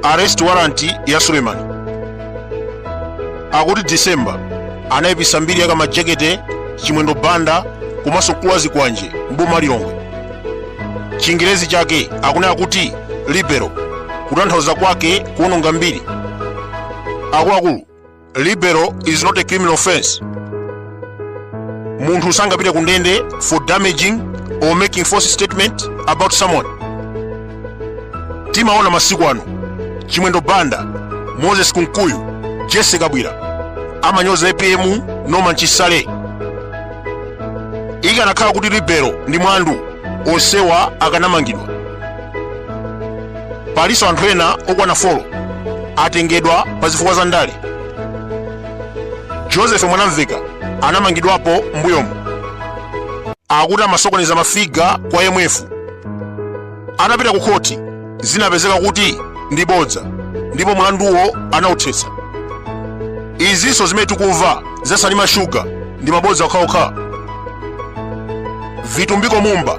arrest warrant ya suleman akuti december anayipisa mbiri ya kamajekete chimwendo banda komanso mkulu wa zikwanje mboma lilongwe chingerezi chake akunena kuti libel kutanthauza kwake kuononga mbiri akuluakulu libel is not a criminal offense munthu sangapite ku ndende for damaging or making false statement about someone timaona masiku ano chimwendo banda moses kunkuyu jessie kabwila amanyoza apm norman chisale ikanakhala kuti libel ndi mlandu onsewa akanamangidwa palinso anthu ena okwana 4 atengedwa pa zifukwa za ndale joseph mwanamvekha anamangidwapo mbuyomu akuti amasokoneza mafiga kwa imf anapita ku khoti zinapezeka kuti ndi bodza ndipo mlanduwo anauthetsa izinso zimene tikumva za salima sugar ndi mabodza okhaokha vitumbiko mumba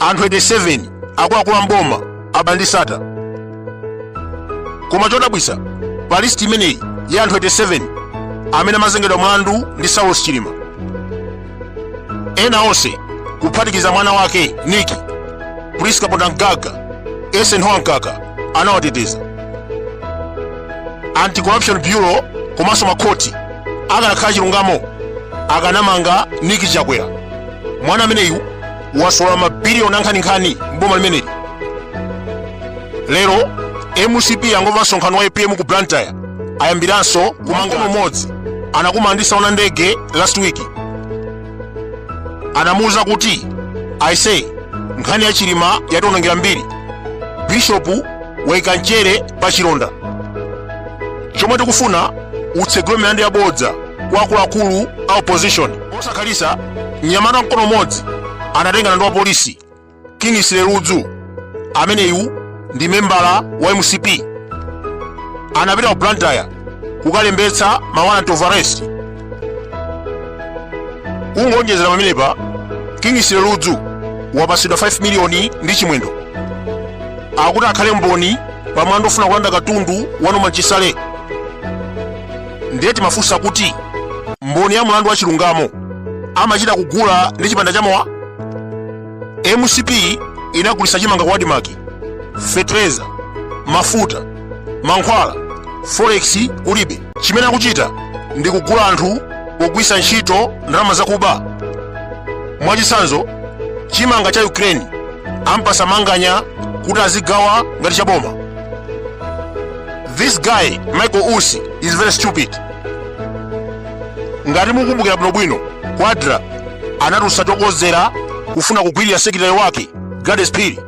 anthu 87 akuluakulu mboma aba ndi sattar koma chodabwisa pa list imeneyi ya anthu 87 amene amazengedwa mlandu ndi saulos chilima ena onse kuphatikiza mwana wake niki prince kapondamgaga eisenhower mkaka anawateteza anti-corruption bureau komanso makhoti akanakhala chilungamo akanamanga niki chakwera mwana ameneyu wasolola mabiliyoni ankhaninkhani mboma limeneli lero mcp yangomva msonkhano wa apm ku blantyre ayambiranso kumanga mkono umodzi anakumana ndi saona ndege last week anamuwuza kuti aise nkhani ya chilima yationongera mbiri bishopu waika mchere pa chilonda chomwe tikufuna utsegule milandu yabodza kwa akuluakulu a opposition Posakhalitsa, mnyamata mkono umodzi anatengana ndi wapolisi Kingsley Ludzu, ameneyu ndi membala wa mcp, anapita ku Blantyre kukalembetsa ma warrant of arrest. Kungonjezera pamenepa, Kingsley Ludzu wapatsidwa 5 miliyoni ndi Chimwendo akuti akhale mboni pa mlandu ofuna kulanda katundu wa Norman Chisale. Ndiye timafunsa kuti, mboni ya mlandu wa chilungamo amachita kugula ndi chipanda cha mowa? MCP inagulisa chimanga ku ADMARC fetereza mafuta mankhwala forex kulibe chimene akuchita ndi kugula anthu pogwisa ntchito ndalama zakuba mwachitsanzo chimanga cha Ukraine ampasa Manganya kuti azigawa ngati chaboma This guy Michael Usi is very stupid. Ngati mukumbukira bwino bwino, ku ADRA anatusa chokozera kufuna kugwirira sekilitale wake Gladys Phiri.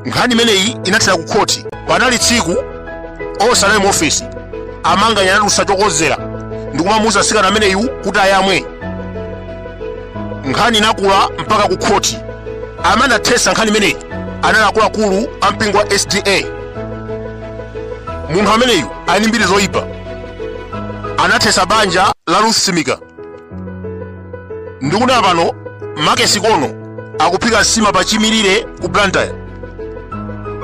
Nkhani imeneyi inathera ku khoti. Panali tsiku osanayi mu ofesi amanganya anatusa chokozera ndi kumamuuza msikana ameneyu kuti ayamwe. Nkhani inakula mpaka ku khoti. Amene anathesa nkhani imeneyi anali akuluakulu a mpingo wa SDA. munthu ameneyu ali ndi mbiri zoyipa anathetsa banja la Ruth Simika ndikunena pano Make Sikono akuphika nsima pa chimirire ku Blantyre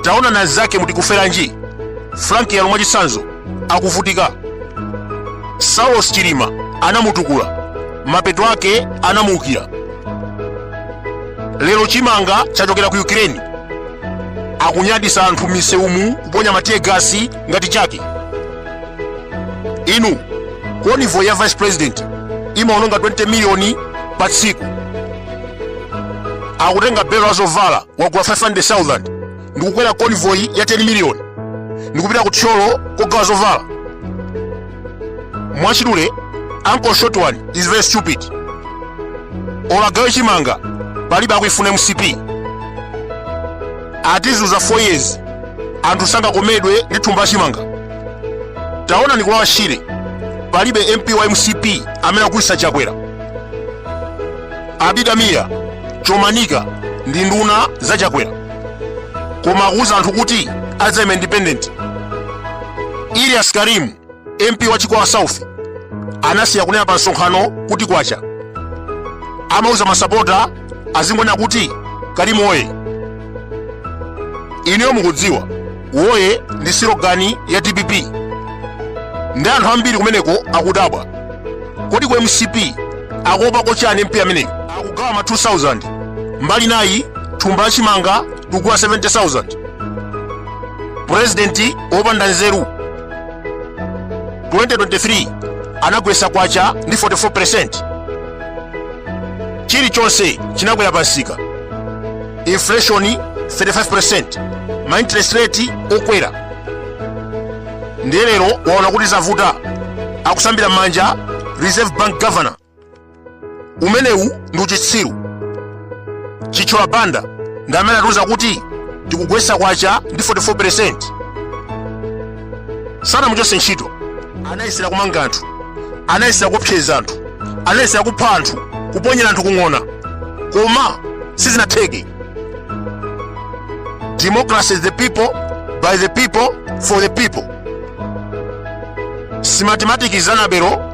taonani anzake muti Kuferanji Frank Yalu mwachitsanzo akuvutika Saulos Chilima anamutukula mapeto ake anamuukira lero chimanga chachokera ku Ukraine akunyadisa anthu misewumu kuponya matiye gasi ngati chake inu konivoyi ya vice president imaononga 20 miliyoni pa tsiku akutenga belo la zovala wagula 500000 ndikukwera convoy ya 10 miliyoni ndikupita ku Thyolo kogawa zovala mwachidule uncle short one is very stupid olo agawe chimanga palibe akuifuna MCP atizuza 4 years anthu sangakomedwe ndi thumba la chimanga taonani ku Lower Shire palibe MP wa MCP amene akugulisa Chakwera Abida Mia Chomanika ndi nduna za Chakwera koma akuuza anthu kuti adzaima independent Ilias Karim, MP wa Chikwawa South, anasiya kunena pa msonkhano kuti kwacha. Amauza masapota azingonena kuti Karim woye. Ineyo mukudziwa, woye ndi silogani ya DPP. Ndi anthu ambiri kumeneko akudabwa. Kodi ku MCP akuopako chani MP ameneyo? Akugawa ma 2000 mbali inayi thumba la chimanga tuugula 70000 purezidenti wopanda nzeru 2023 anagwesa kwacha ndi 44% chilichonse chinakwera pamsika inflation 35% ma interest rate okwera ndiye lero waona kuti zavuta akusambira manja reserve bank governor umenewu ndi uchitsiru chithyola banda ndi amene anatiuza kuti tikugwesa kwacha ndi 44% sanamuchotse ntchito anayesera kumanga anthu anayesera kuopseza anthu anayesera kupha anthu kuponyera anthu kung'ona koma sizinatheke democracy is the people by the people for the people si mathematics za mabelo